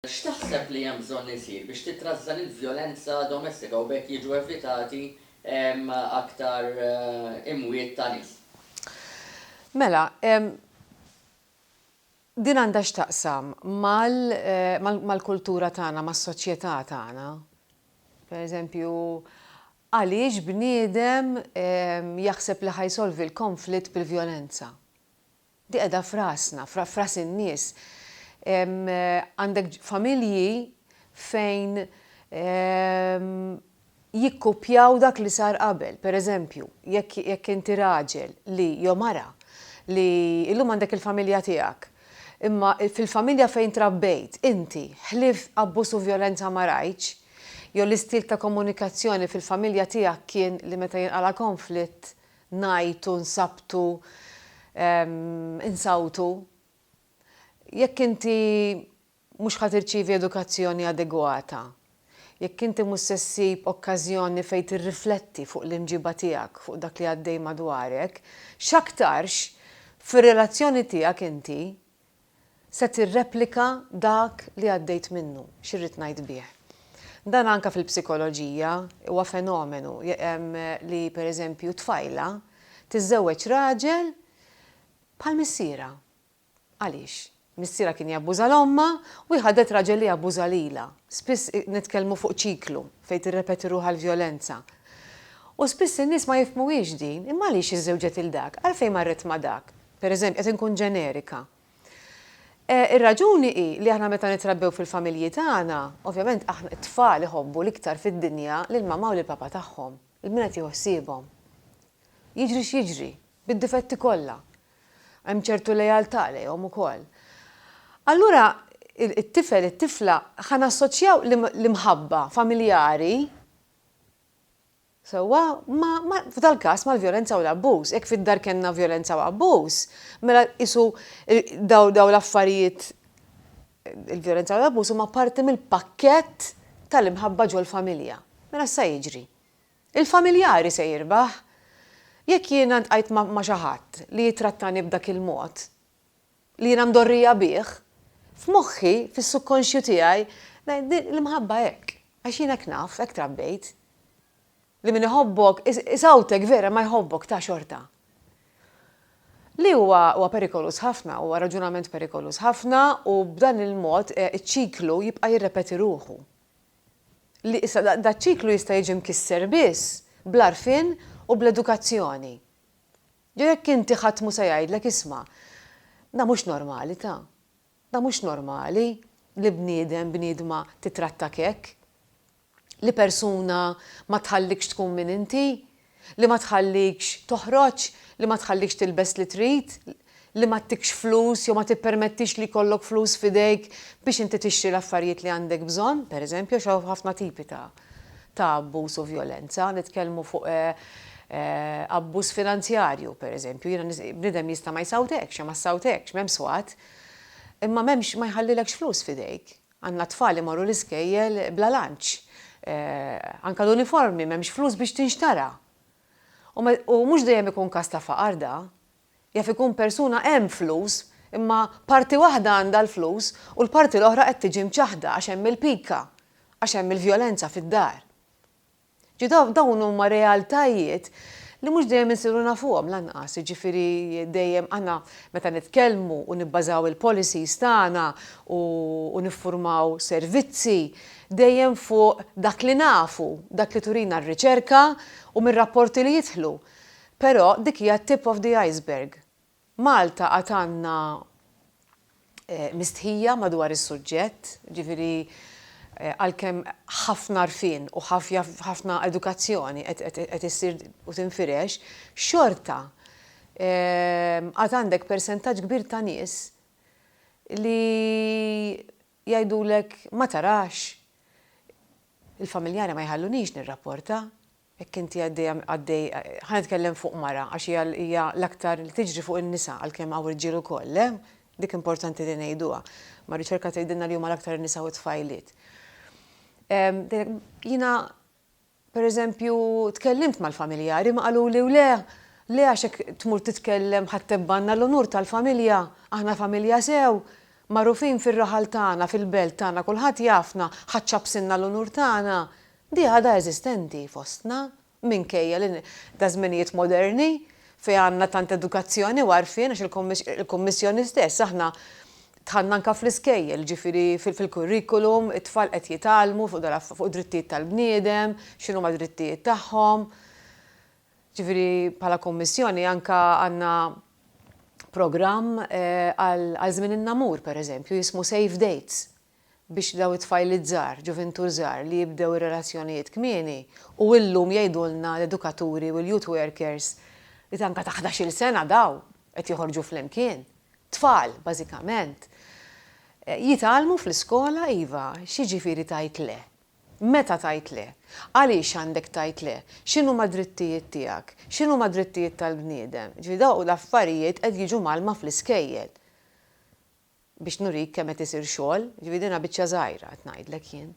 X'taħseb li hemm bżonn isir biex titrażżan il-vjolenza domestika u b'hekk jiġu evitati aktar imwiet ta' nies? Mela, din għandha x'taqsam mal-kultura tagħna, mas-soċjetà tagħna. Pereżempju, għaliex bniedem jaħseb li ħa jsolvi l-konflitt bil-vjolenza? Di qiegħda f'rasna, f'ras in-nies. Għandek familji fejn jikkupjaw dak li sar qabel. Per eżempju, jekk inti raġel li, jew mara, li illum għandek il-familja tiegħek, imma fil-familja fejn trabbejt inti, ħlief abbuż u vjolenza ma rajtx, jew l-istil ta' komunikazzjoni fil-familja tiegħek kien li meta jinqala' konflitt, ngħajtu, nsabtu, insawtu. Jekk inti mhux ħa tirċievi edukazzjoni adegwata, jekk inti mhux se ssib okkażjoni fejn tirrifletti fuq l-imġiba tiegħek fuq dak li għaddej madwarek, x'aktarx fir-relazzjoni tiegħek inti se tirreplika dak li għaddejt minnu. X'irrid ngħid bih? Dan anke fil-psikoloġija huwa fenomenu li pereżempju tfajla tiżżewweġ raġel bħal missierha. Għaliex? Missierha kien jabbuża 'l ommha u hi ħadet raġel li jabbuża lilha. Spiss nitkellmu fuq ċiklu fejn tirrepeti ruħha l-vjolenza. U spiss in-nies ma jifhmuhiex din, imma għaliex iżżewġet 'il dak? Għalfejn marret ma' dak? Pereżempju, qed inkun ġenerika. Ir-raġuni hi li aħna meta nitrabbew fil-familji tagħna, ovvjament aħna t-tfal iħobbu l-iktar fid-dinja lill-mama u lill-papa tagħhom, il-min qed jieħu ħsiebhom. Jiġri x'jiġri, bid-difetti kollha, hemm ċertu lealtà lejhom ukoll. Allura it-tifel, it-tifla, ħa nassoċjaw l-imħabba familjari, Sewwa, ma, ma, f'dal-każ mal-vjolenza u l-abbuż. Jekk fid-dar kellna vjolenza u abbuż, mela qisu dawn, dawn l-affarijiet, il-vjolenza u l-abbuż huma parti mill-pakkett tal-imħabba ġol-familja. Mela x'sa jiġri? Il-familjari se jirbaħ! Jekk jiena ntqajt ma', ma' xi ħadd li jittrattani b'dak il-mod, li jiena mdorrija bih, f'moħħi, fis-subkonxju tiegħi, l-imħabba hekk, għax jien hekk naf, hekk trabbejt, li min iħobbok, isawtek vera imma jħobbok ta' xorta. Li huwa huwa perikoluż ħafna, huwa raġunament perikoluż ħafna u b'dan il-mod iċ-ċiklu jibqa' jirrepeti ruħu. Li issa daċ-ċiklu jista' jiġi mkisser biss bl-għarfien u bl-edukazzjoni. Jew jekk inti ħadd mhu se jgħidlek isma', dan mhux normali ta'. Dan mhux normali li bniedem, bniedma titrattak hekk. Li persuna ma tħallikx tkun min inti, li ma tħallikx toħroġ, li ma tħallikx tilbes li trid, li ma ttikx flus jew ma tippermettix li jkollok flus f'idejk biex inti tixtri l-affarijiet li għandek bżonn, pereżempju għax hawn ħafna tipi ta'. ta' abbuż u vjolenza, nitkellmu fuq abbuż finanzjarju, pereżempju, jiena bniedem jista' ma jsawtekx jew ma ssawtekx, m'hemm swat, imma m'hemmx ma jħallilekx flus f'idejk. Għandna tfal li jmorru l-iskejjel bla lunch, anke l-uniformi m'hemmx flus biex tinxtara. U mhux dejjem ikun każ ta' faqar da, Jaf ikun persuna hemm flus, imma parti waħda għandha l-flus u l-parti l-oħra qed tiġi mċaħħda għax hemm il-pika, għax hemm il-vjolenza fid-dar. Ġi dawn huma realtajiet li mhux dejjem insiru nafuhom lanqas, jiġifieri dejjem aħna meta nitkellmu u nibbażaw il-policies tagħna u niffurmaw servizzi dejjem fuq dak li nafu, dak li turina r-riċerka u mir-rapporti li jidħlu. Però dik hija t-tip of the iceberg. Malta għad għandna mistħija madwar is-suġġett, jiġifieri għalkemm ħafna għarfien u ħafna edukazzjoni qed issir u tinfirex, xorta għad għandek persentaġġ kbir ta' nies li jgħidulek ma tarax, il-familjari ma jħalluniex nirrapporta. Jekk inti għaddejja, għaddej, ħa nitkellem fuq mara għax hija, hija l-aktar li tiġri fuq in-nisa għalkemm hawn irġiel ukoll, le? Dik importanti li ngħiduha. Ma r-riċerka tgħidilna li huma l-aktar in-nisa u t-tfajliet. Jiena pereżempju tkellimt mal-familjari imma qaluli u le, le għax jekk tmur titkellem ħa ttebgħna l-unur tal-familja, aħna familja sew, magħrufin fir-raħal tagħna, fil-belt tagħna kulħadd jafna, ħa ċċappsilna l-unur tagħna. Di għadha eżistenti fostna, minkejja li ta' żminijiet moderni, fejn għandna tant edukazzjoni u għarfien għax il-Kummissjoni stess aħna dħalna anke fl-iskejjel, jiġifieri fil-kurrikulum, it-tfal qed jitgħallmu fuq id-drittijiet tal-bniedem, x'inhuma d-drittijiet tagħhom. Jiġifieri bħala Kummissjoni anke għandna programm għal żmien in-namur, pereżempju, jismu Safe Dates, biex dawn it-tfajliet żgħar, ġuvintur żgħar li jibdew ir-relazzjonijiet kmieni u illum jgħidulna l-edukaturi u l-youth workers li tanka ta' ħdax-il sena dawn qed joħorġu flimkien, tfal bażikament, jitgħallmu fl-iskola iva, x'jiġifieri tgħid le? Meta tgħid le? Għaliex għandek tgħid le? X'inhuma d-drittijiet tiegħek? X'inhuma d-drittijiet tal-bniedem? Jiġifieri dawn l-affarijiet qed jiġu mgħallma fl-iskejjel. biex nurik kemm qed isir xogħol, jiġifieri din biċċa żgħira qed ngħidlek jien.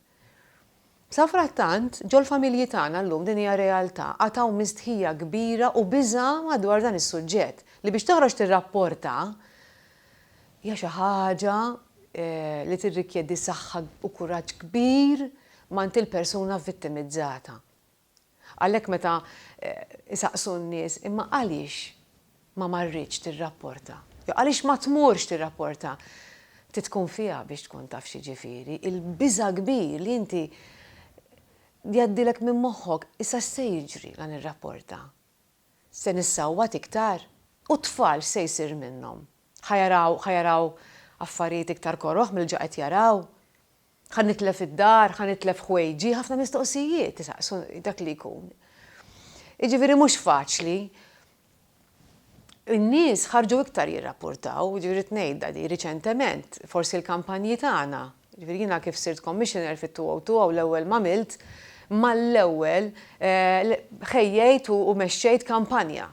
Safrattant, ġol-familji tagħna llum din hija realtà, għad hawn mistħija kbira u biża' madwar dan is-suġġett, li biex toħroġ tirrapporta hija xi ħaġa li tirrikjedi saħħa u kuraġġ kbir m'għand il-persuna vittimizzata. Għalhekk meta jsaqsu n-nies imma għaliex ma marritx tirrapporta, jew għaliex ma tmurx tirrapporta, trid tkun fiha biex tkun taf x'jiġifieri l-biża' kbir li inti jgħaddilek minn moħħok, issa x'se jiġri la nirrapporta? Se nissawwat iktar? U t-tfal x'se jsir minnhom? Ħa jaraw ħa jaraw affarijiet iktar koroh mill-ġa qed jaraw? Ħa nitlef id-dar, ħa nitlef ħwejġi, ħafna mistoqsijiet isaqsu dak li jkun. Jiġifieri mhux faċli. In-nies ħarġu iktar jirrappurtaw, jiġifieri rrid ngħidha di, riċentement, forsi l-kampanji tagħna, jiġifieri jiena kif sirt commissioner fit-202 hawn l-ewwel m'għamilt, mal-ewwel ħejjejt u mexxejt kampanja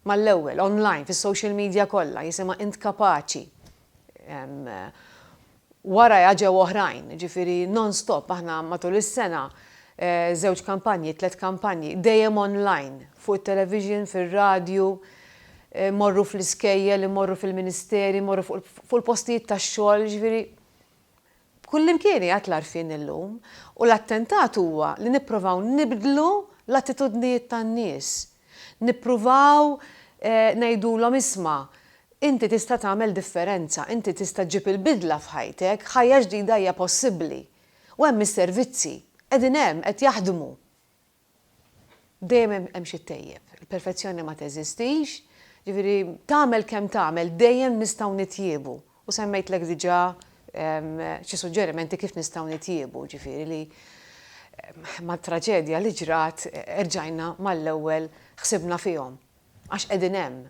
Mal-ewwel, online, fis-social media kollha, jisimha int kapaċi. Warajha ġew oħrajn, jiġifieri non-stop aħna matul is-sena, żewġ kampanji, tliet kampanji, dejjem online, fuq it-television, fir-radju, immorru fl-iskejjel, immorru fil-ministeri, immorru fuq il-postijiet tax-xogħol, jiġifieri Kullimkien qiegħed l-għarfien illum, u l-attentat huwa li nipprovaw nibdlu l-attitudnijiet tan-nies. Nippruvaw ngħidulhom isma', inti tista' tagħmel differenza, inti tista' ġġib il-bidla f'ħajtek, ħajja ġdida hija possibbli. U hemm is-servizzi, qegħdin hemm, qed jaħdmu. Dejjem hemm hemm xi ttejjeb. Il-perfezzjoni ma teżistix, jiġifieri tagħmel kemm tagħmel dejjem nistgħu nitjiebu. U semmejtlek diġà xi suġġerimenti kif nistgħu nitjiebu, jiġifieri li mat-traġedja li ġrat erġajna mal-ewwel ħsibna fihom. Għax qegħdin hemm.